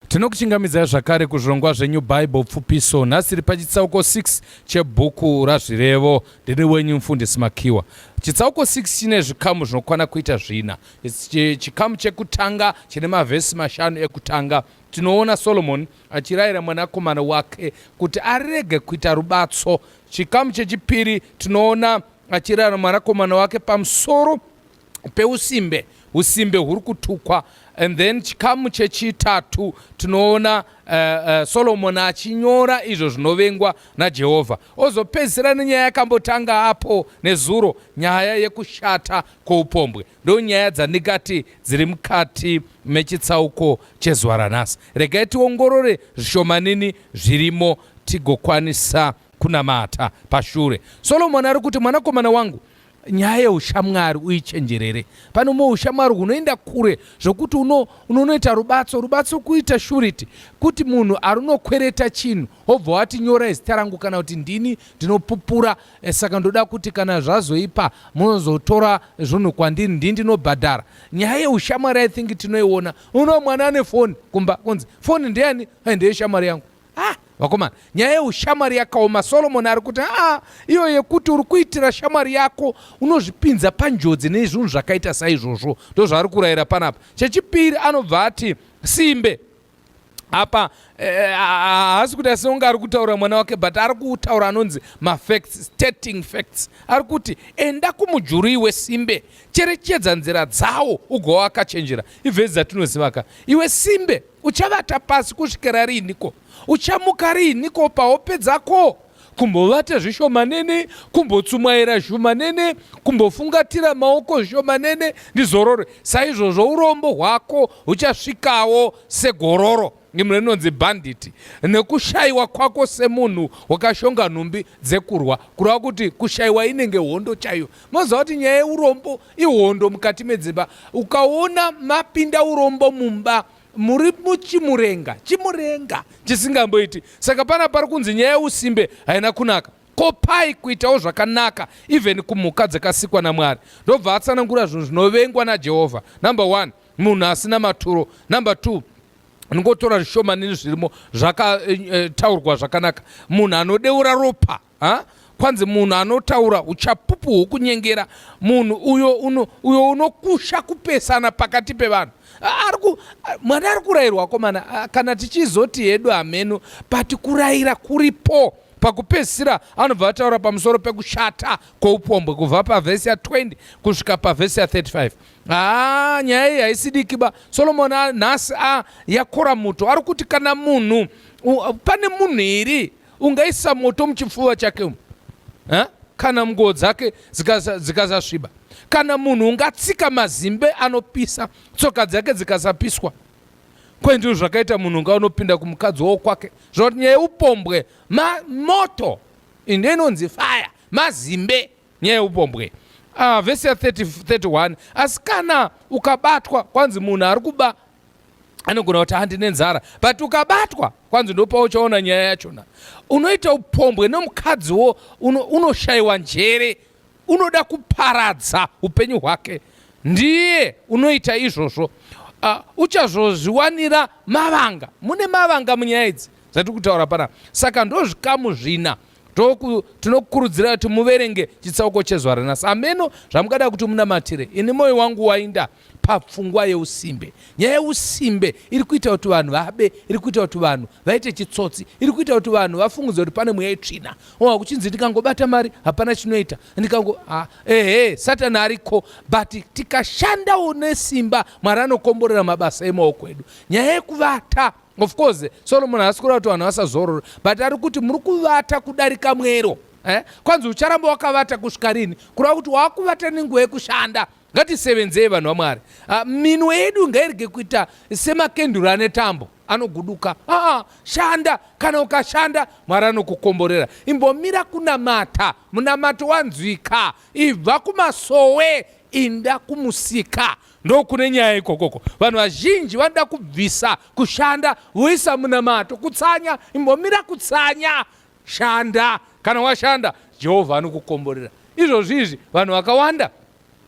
Tinokuchingamidzai zvakare kuzvirongwa zveNew Bible Pfupiso. Nhasi tiri pachitsauko 6 chebhuku raZvirevo. Ndiri wenyu mfundisi Makiwa. Chitsauko 6 chine zvikamu zvinokwana kuita zvina. Chikamu chekutanga chine mavhesi mashanu ekutanga. Tinoona Solomoni achirayira mwanakomana wake kuti arege kuita rubatso. Chikamu chechipiri tinoona achirayira mwanakomana wake pamusoro peusimbe usimbe huri kutukwa and then chikamu chechitatu tinoona uh, uh, solomoni achinyora izvo zvinovengwa najehovha ozopedzisira nenyaya yakambotanga apo nezuro nyaya yekushata kwoupombwe ndo nyaya dzandingati dziri mukati mechitsauko chezuva ranhasi regai tiongorore zvishomanini zvirimo tigokwanisa kunamata pashure solomoni ari kuti mwanakomana wangu Nyaya yeushamwari uichenjerere. Pane umwe ushamwari hunoenda kure zvokuti uno, unonoita rubatso rubatso kuita shuriti kuti munhu arunokwereta chinhu obva wati nyora izita rangu kana kuti ndini ndinopupura e, saka ndoda kuti kana zvazoipa munozotora zvinhu kwandiri ndini ndinobhadhara. Nyaya yeushamwari i think tinoiona. Uno mwana ane foni kumba kunzi foni ndeyani? Ndeyeshamwari yangu. ah, vakomana nyaya yeushamwari yakaoma solomoni ari kuti aa iyo yekuti uri kuitira shamwari yako unozvipinza panjodzi nezvinhu zvakaita saizvozvo ndozvaari kurayira panapa chechipiri anobva ati simbe apa eh, haasi eh, kuti asinonge ari kutaura mwana wake but ari kutaura anonzi mafacts stating facts ari kuti enda kumujurui wesimbe cherechedza nzira dzawo ugowa akachenjera ivhezi dzatinozivaka iwe simbe Uchavata pasi kusvikira riiniko? Uchamuka riiniko pahope dzako? Kumbovata zvishomanene, kumbotsumwaira zvishomanene, kumbofungatira maoko zvishomanene, ndizorore. Saizvozvo urombo hwako huchasvikawo segororo imwe inonzi bhanditi nekushayiwa kwako semunhu wakashonga nhumbi dzekurwa kureva kuti kushayiwa inenge hondo chaiyo moziva kuti nyaya yeurombo ihondo mukati medzimba ukaona mapinda urombo mumba muri muchimurenga chimurenga chisingamboiti saka pana pari kunzi nyaya yeusimbe haina kunaka ko pai kuitawo zvakanaka even kumhuka dzakasikwa namwari ndobva atsanangura zvinhu zvinovengwa najehovha number one munhu asina maturo number two ndingotora zvishomanini zvirimo zvakataurwa eh, eh, zvakanaka munhu anodeura ropa ha? kwanzi munhu anotaura uchapupu hwokunyengera munhu uyo uno, uyo unokusha kupesana pakati pevanhu ariku mwari ari kurayirwa komana kana tichizoti hedu hameno but kurayira kuripo pakupedzisira anobva ataura pamusoro pekushata kwoupombwe kubva pavhesi ya 20 kusvika pavhesi ya 35 haa nyaya iyi haisidikiba solomoni nhasi a yakora muto ari kuti kana munhu pane munhu iri Ungaisa moto muchipfuva chake umu ha? kana nguo dzake dzikasasviba zika kana munhu ungatsika mazimbe anopisa tsoka dzake dzikasapiswa kwendizvo zvakaita munhu unga unopinda kumukadzi wo kwake zvoti nyaya upombwe ma, moto inde inonzi faya mazimbe nyaya upombwe uh, vhesi ya 30, 31 asi kana ukabatwa kwanzi munhu ari kuba anogona kuti handi nenzara but ukabatwa kwanzi ndopa uchaona nyaya yachona unoita upombwe nomukadziwo unoshayiwa uno njere unoda kuparadza upenyu hwake ndiye unoita izvozvo uh, uchazozviwanira mavanga mune mavanga munyaya idzi zvatiri kutaura pana saka ndozvikamu zvina tinokurudzira kuti muverenge chitsauko chezuva ranasi ameno zvamungada kuti munamatire ini moyo wangu wainda papfungwa yeusimbe. Nyaya yeusimbe iri kuita kuti vanhu vabe, iri kuita kuti vanhu vaite chitsotsi, iri kuita kuti vanhu vafungudze kuti pane mweya itsvina. Oa kuchinzi ndikangobata mari hapana chinoita, ndikango ah, ehe satani ariko, but tikashandawo nesimba Mwari anokomborera mabasa emaoko edu. Nyaya yekuvata of course Solomon haasi kureva kuti vanhu vasazorore, but ari kuti muri kuvata kudarika mwero eh? kwanzi ucharamba wakavata kusvika rini kureva kuti wakuvata nenguva yekushanda Ngatisevenzei vanhu vaMwari. Ah, minwe yedu ngairege kuita semakenduru ane tambo anoguduka. Aa, ah, shanda kana ukashanda Mwari anokukomborera. Imbomira kunamata, munamato wanzwika. Ibva kumasowe inda kumusika ndokune nyaya ikokoko vanhu vazhinji vanoda kubvisa kushanda voisa munamato kutsanya imbomira kutsanya Shanda. Kana washanda, Jehovha anokukomborera. Izvozvi izvi vanhu vakawanda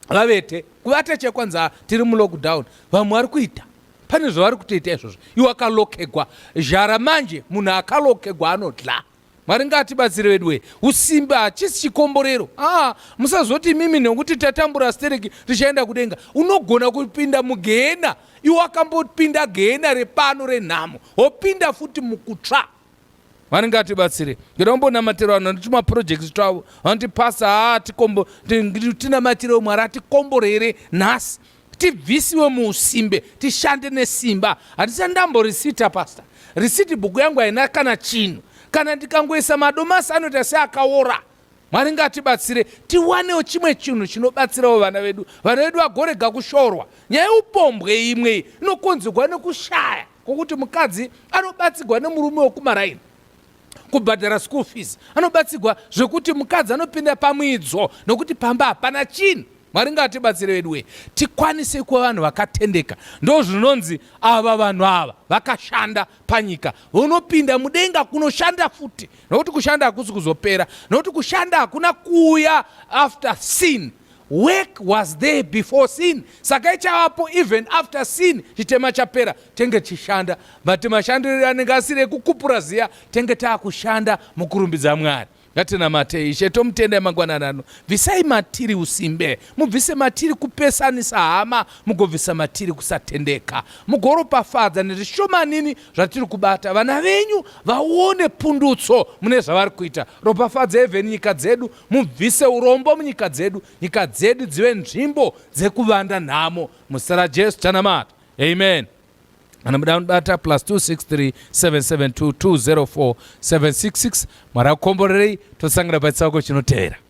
vavete kuvata chekwanza tiri mulockdown vamwe vari kuita pane zvavari kutoita izvozvo iwe akalokegwa zhara manje munhu akalokegwa anodla mwari ngaatibatsire veduwe usimbe hachisi chikomborero aa musazoti imimi nekuti tatambura stereki tichaenda kudenga unogona kupinda mugehena iwe akambopinda gehena repano renhamo wopinda futi mukutsva Mwari ngatibatsire. Ndoda kumbonamatira vanhu vanoita maprojects twavo vanoti pasa haa tikombo tinamatirewo Mwari atikombore here nhasi tibvisiwe muusimbe tishande nesimba hatisati ndamborisita pasta risiti bhuku yangu haina kana chinhu kana ndikangoisa madomasi anoita seakaora Mwari ngatibatsire tiwanewo chimwe chinhu chinobatsirawo vana vedu, vana vedu vagorega kushorwa. Nyaya yeupombwe imwe iyi inokonzerwa nekushaya kwokuti mukadzi anobatsirwa nemurume wekumaraini kubhadhara school fees, anobatsirwa zvekuti mukadzi anopinda pamwidzo nokuti pamba hapana chinhu. Mwari ngatibatsire vedu wee tikwanise kuva vanhu vakatendeka. Ndozvinonzi ava vanhu ava vakashanda panyika vonopinda mudenga kunoshanda futi nokuti kushanda hakusi kuzopera nokuti kushanda hakuna kuuya after sin work was there before sin saka ichavapo even after sin chitema chapera tenge tichishanda but mashandiro anenge asiri ekukupura ziya tenge taakushanda mukurumbidza mwari Ngatinamate Ishe tomutendai mangwanani ano. Bvisai matiri usimbe, mubvise matiri kupesanisa hama, mugobvisa matiri kusatendeka, mugoropafadza nezvishomanini zvatiri kubata. Vana venyu vaone pundutso mune zvavari kuita. Ropafadza even nyika dzedu, mubvise urombo munyika dzedu, nyika dzedu dzive nzvimbo dzekuvanda nhamo. Muzita raJesu tanamata, amen. kana muda kunibata plus 263772204766 mwari akukomborerei tosangana pachitsauko chinoteera